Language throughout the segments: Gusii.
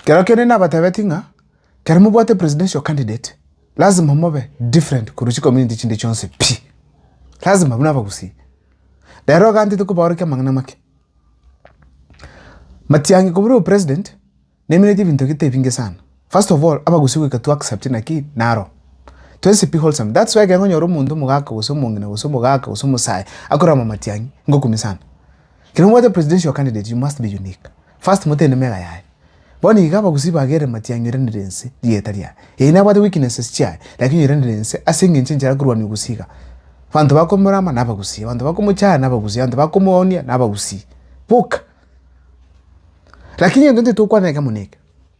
Kero kende nabatebetie ng'a kero mobwate presidential candidate lazima mobe different korwa chicommunity chinde chionsi pi, lazima buna Abagusii. Rero iga ntete kobaorokia amang'ana amake. Matiang'i koburwa upresident naimineti ebinto gete ebinge sana. First of all, Abagusii goika to accept ng'a ki? Naro. Twensi pi wholesome. That's why ekero nkonyora omonto omogaka gose omong'ina gose omogaka gose omosae akorama Matiang'i, ngokumia sana. Ekero mobwate presidential candidate you must be unique. First motende mera yaye. Bono iga abagusii bagere Matia anyoiranire ense rieta riaye. Ee nabwate weaknesses chiaye lakini onyoiranire ense ase engencho enchera akorwania obusii iga. Abanto bakomorama nabagusii, abanto bakomochaya nabagusii, abanto bakomoonia nabagusii. Boka. Lakini egento tokoanera ekemo neke.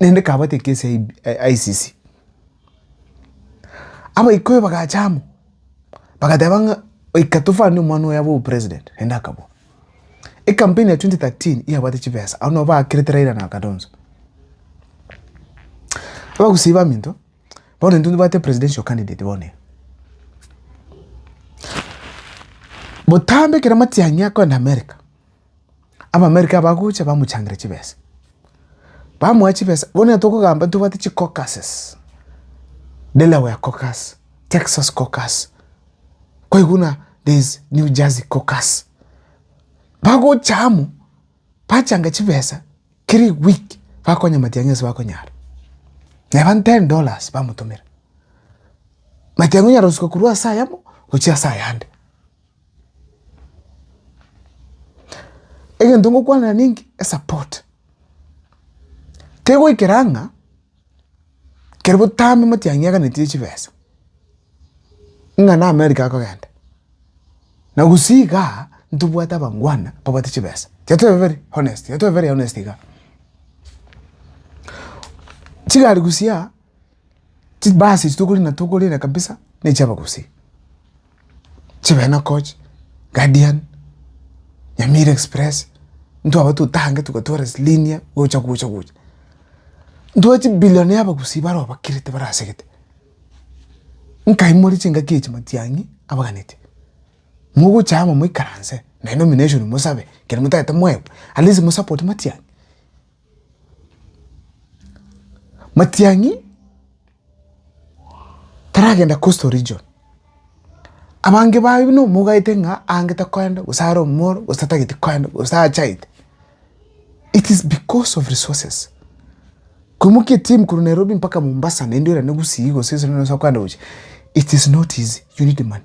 nende kabati ekesi ya ICC. Abaikoyo bagacha amo bagateba ng'a oika tofani omwana oyo abe president naende akabua. Ecampaign ya twenty thirteen yabwate chibesa abwo nabo bakerete Raila na Kalonzo. Abagusii baminto bono intwe nitobwate presidential candidate bono iga. Botambe ekero matiang'i akoenda America. Abaamerika bagocha bamochangera chibesa, bamoa chibesa, bono onye tokogamba ntobwate chicaucuses, Delaware caucus, Texas caucus, kwaigwa buna there is New Jersey caucus, bagocha amo bachanga chibesa kera week bakonya matiang'i ase bakonyara, neba ten dollars bamotomera, matiang'i onyara gosuka korwa ase aya amo gochia ase ayande. Egento ngokwanera ninki? Esupport. Kegoikera ng'a kero botambe motianyi aganetire chibesa, ng'a na America akogenda, na gusii igaa ntobwate abangwana babwate chibesa. Tiga tobeberi honest, tiga tobeberi honest igaa. Chigari gusii aa. Chibasi echi tokori na togorere kabisa ne chia abagusii, chibena coach, guardian, nyamira express, intwe abwo totange togatwara ase linear gocha gocha gocha. Ntware chibillion ya abagusii bare obakirete bare asegete, nkaimoria chingaki echi matiang'i abaganete, mogocha amo moikaranse naende nomination mosabe ekero motagete moegwe at least mosapote matiang'i. Matiang'i taragenda coastal region, abange baye buna omogaete ng'a ange takoenda gose are omoro gose tatageti koenda gose achaete. It is because of resources, koimokia etimu korwa Nairobi mpaka Mombasa naende orende gusii gose gose nonye gose okoenda gochia, it is not easy, you need money.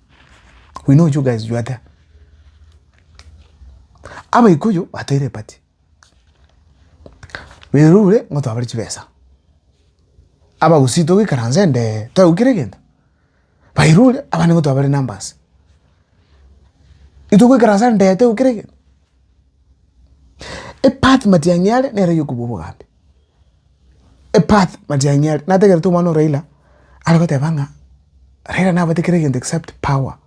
we know you guys you are there abaikuyu batoire epati berure ng'o twabare chibesa abagusii togoikaranse nde twegwa kera egento bairure abande ng'o twabare numbers itogoikaransa nde twegwa kera egento epati matiang'i are nero yokobua obogambi. Epath Matiang'i aria nategerete omwana o Raila are goteba ng'a Raila nabwate kera egento except power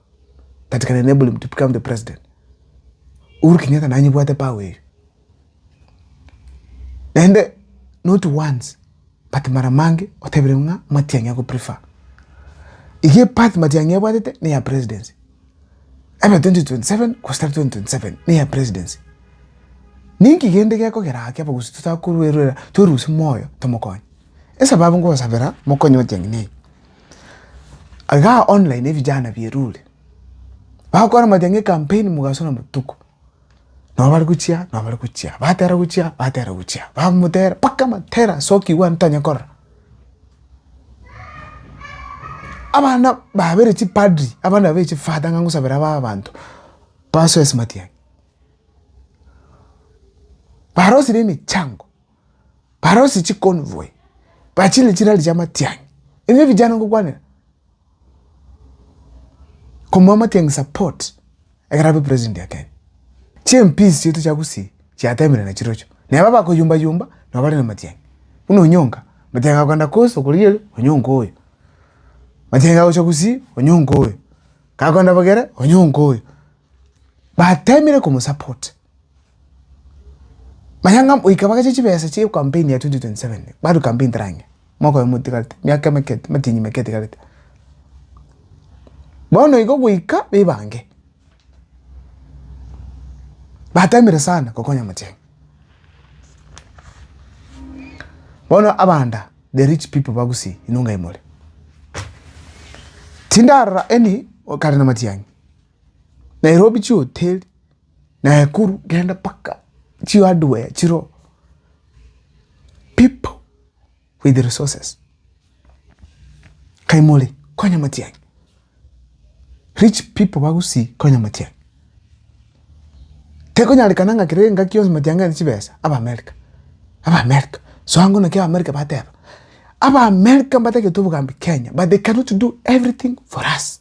that can enable him to become the president. Uhuru Kenyatta nanyebwate power eyio. Naende not once but mara mange otebire ng'a Matiang'i ago prefer. Eyio epath Matiang'i abwatete neya presidency. Ebe 2027 2027 neye presidency ninki gende gekogera ake abagusii totakoruerera torusie moyo tomokonye esababu ngosabera mokonye gochia ng'ina eye igaa online ebijana bierure bagokora moteba ng'a ecampaign mogasore botuko. Nabo bare gochia, nabo bare gochia, batera gochia, batera gochia, bamotera mpaka amatera asokigwe abanto tanyara korora. Abana babere chipadri, abana babere chifata ng'a ngosabera aba abanto basoe ase matiang'i. Barosirie emechango. barosie chiconvoy bachire chirari chia matiang'i ebio ebijana ngokwanera komoa matiang'i support ekero abe president ya kenya chimps chiaito chia gusii chiatemire nachirochio neba bakoyumba yumba nabo bare na matiang'i buna onyonga matiang'i agokenda coast okorigia ere onyonga oyo matiang'i agocha gusii onyonga oyo kagoenda bogere onyonga oyo batemire komosupport. Manya ng'a goika bagache chibesa chia campaign ya 2027 badu campaign tera ang'e mwaka oyomo otigarete miaka emeke matinyi make etigarete bono igo goika bebange batemire sana gokonya omochie bono abanda the rich people ba gusii inwe ngai more tindarora any okare na matiang'i. Nairobi chihoteri, Naekuru genda mpaka chihardware chiroo, pipo with resources kaimore konya matiang'i, rich pipo ba Gusii konya matiang'i, tekonyarekana ng'a kera engaki yonsi matiang'i are chibesa, Abaamerika, Abaamerika, soa ng'o naki Abaamerika bateba, Abaamerika mbatagete obogambi Kenya but they cannot do everything for us.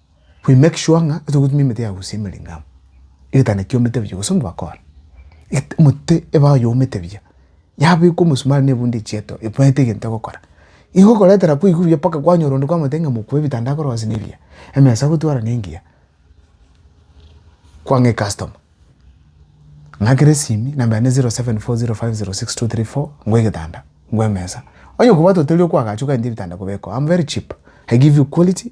we make sure ng'a togotumia emete ya gosia emerenge amo, egetanda kiomete buya gose onde bakora et- omote eba oyomete buya, yabekwa omosumari na ebundi echieto ebaete egento egokora. Igo okoretera kwaigwa buya mpaka kwanyora onde kwamotebia ng'a mokuwe ebitanda akore gose nebiya, emesa gotwara nengiya, kwang'a ecustoma ng'akere esimi nambera ne zero seven four zero five zero six two three four ngwa egetanda, ngwa emesa, onye okobwate otari okoagacha okagenda ebitanda kobekwa amo very cheap, I give you quality.